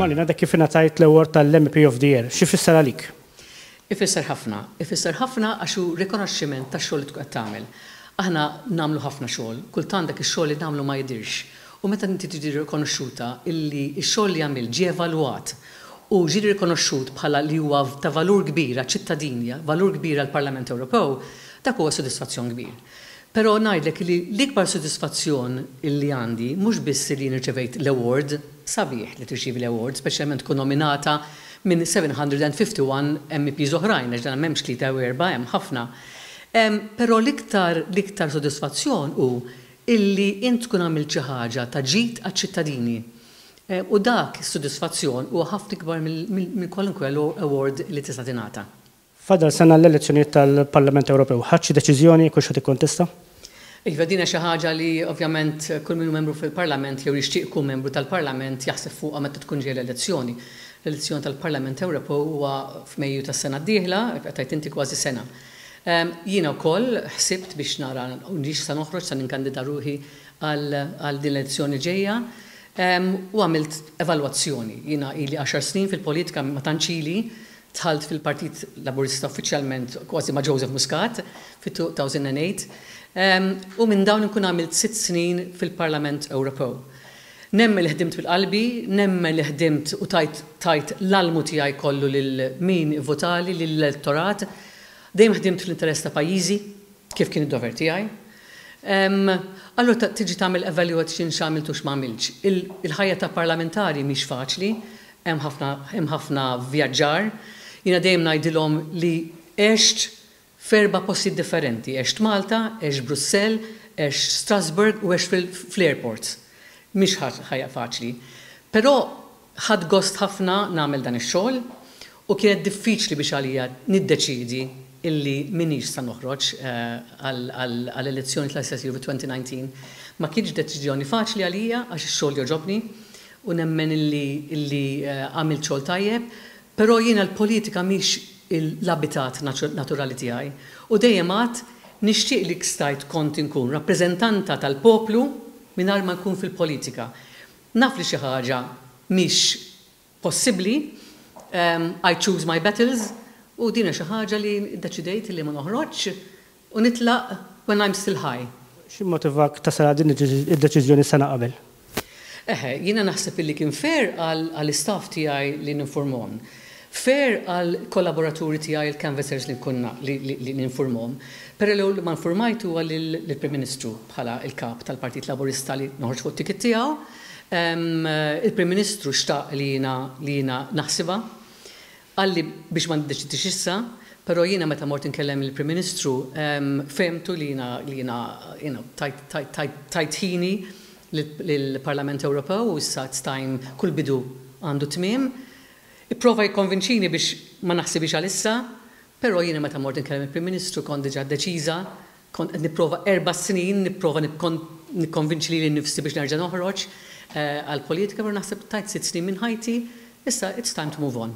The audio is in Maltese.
Marina, dak kif ingħatajt l-award tal-MEP of the Year, xi jfisser għalik? Ifisser ħafna. Ifisser ħafna għax hu rikonoxximent tax-xogħol li tkun qed tagħmel. Aħna nagħmlu ħafna xogħol, kultant dak ix-xogħol li nagħmlu ma jidhirx. U meta inti tiġi rikonoxxuta illi x-xogħol li għamilt ġie evalwat u ġie rikonoxxut bħala li huwa ta' valur kbir għaċ-ċittadini, valur kbir għall-Parlament Ewropew, dak huwa sodisfazzjon kbir. Però ngħidlek li l-ikbar sodisfazzjon li għandi mhux biss li jien irċevejt l-award, sabiħ li tirċievi l-award, speċjalment tkun nominata minn 751 MEPs oħrajn għax dan m'hemmx tlieta jew erbgħa hemm ħafna, però l-iktar l-iktar sodisfazzjon hu illi int tkun għamilt xi ħaġa ta' ġid għaċ-ċittadini. U dak is-sodisfazzjon huwa ħafna ikbar minn kwalunkwe award li tista' tingħata. Fadal sena għall-elezzjonijiet tal-Parlament Ewropew. Ħadt xi deċiżjoni jekk hux ħa tikkontesta? Iva, din hija xi ħaġa li ovvjament kull min hu membru fil-Parlament jew jixtieq ikun membru tal-Parlament jaħseb fuqha meta tkun ġejja l-elezzjoni. L-elezzjoni tal-Parlament Ewropew huwa f'Mejju tas-sena d-dieħla, qed tgħid inti kważi sena. Jiena wkoll ħsibt biex nara nix sa noħroġ sa ninkandida ruħi għal din l-elezzjoni ġejja u għamilt evalwazzjoni. Jiena ili għaxar snin fil-politika ma tantx ili, Dħalt fil-Partit Laburista uffiċjalment kważi ma' Joseph Muscat fit-2008 u minn dawn inkun għamilt sitt snin fil-Parlament Ewropew. Nemmen li ħdimt minn qalbi, nemmen li ħdimt u tajt tajt l-almu tiegħi kollu lil min ivvotali, lill-elettorat. Dejjem ħdimt fl-interess ta' pajjiżi, kif kien id-dover tiegħi. Allura tiġi tagħmel evaluation x'għamilt u x'ma għamiltx. Il-ħajja ta' parlamentari mhix faċli. Hemm ħafna hemm ħafna vvjaġġar. Jiena dejjem ngħidilhom li għext f'erba' postijiet differenti, għext Malta, għext Brussell, għext Strasbourg u għext fil fl-airports. Mhix ħajja faċli. Però ħadt gost ħafna nagħmel dan ix-xogħol u kienet diffiċli biex għalija niddeċiedi illi m'iniex sa noħroġ għal għal elezzjoni tal-SSU fit-2019. Ma kienx deċiżjoni faċli għalija għax ix-xogħol jogħġobni u nemmen illi illi għamilt xogħol tajjeb, però jiena l-politika mhix l-abitat naturali tiegħi u dejjem għadt nixtieq li stajt kont inkun rappreżentanta tal-poplu mingħajr ma nkun fil-politika. Naf li xi ħaġa mhix possibbli, I choose my battles, u din hija xi ħaġa li ddeċidejt li ma noħroġx, U nitlaq when I'm still high. X'immotivak tasal għal din id-deċiżjoni sena qabel? Eħe, jiena naħseb illi kien fair għall-istaff tiegħi li ninfurmhom. Fair għall-kollaboraturi tiegħi il-canvassers li nkun li ninfurmhom. Però l-ewwel ma nfurmajt huwa lill-Prim Ministru bħala l-Kap tal-Partit Laburista li noħorġ fuq it-ticket tiegħu. Il-Prim Ministru xtaq li jiena naħsibha Qalli biex ma niddeċidix issa, però jiena meta mort inkellem lill-Prim Ministru fehmtu li jiena tajt ħini lill-Parlament Ewropew u issa it's time kull bidu għandu tmiem. Ipprova jikkonvinċini biex ma naħsibhiex għalissa, però jiena meta mort inkellem il-Prim Ministru kont diġà deċiża Kont qed nipprova erba' snin nipprova nikkonvinċi lili nnifsi biex nerġa' noħroġ għall-politika, però naħseb tajt sitt snin minn ħajti, issa it's time to move on.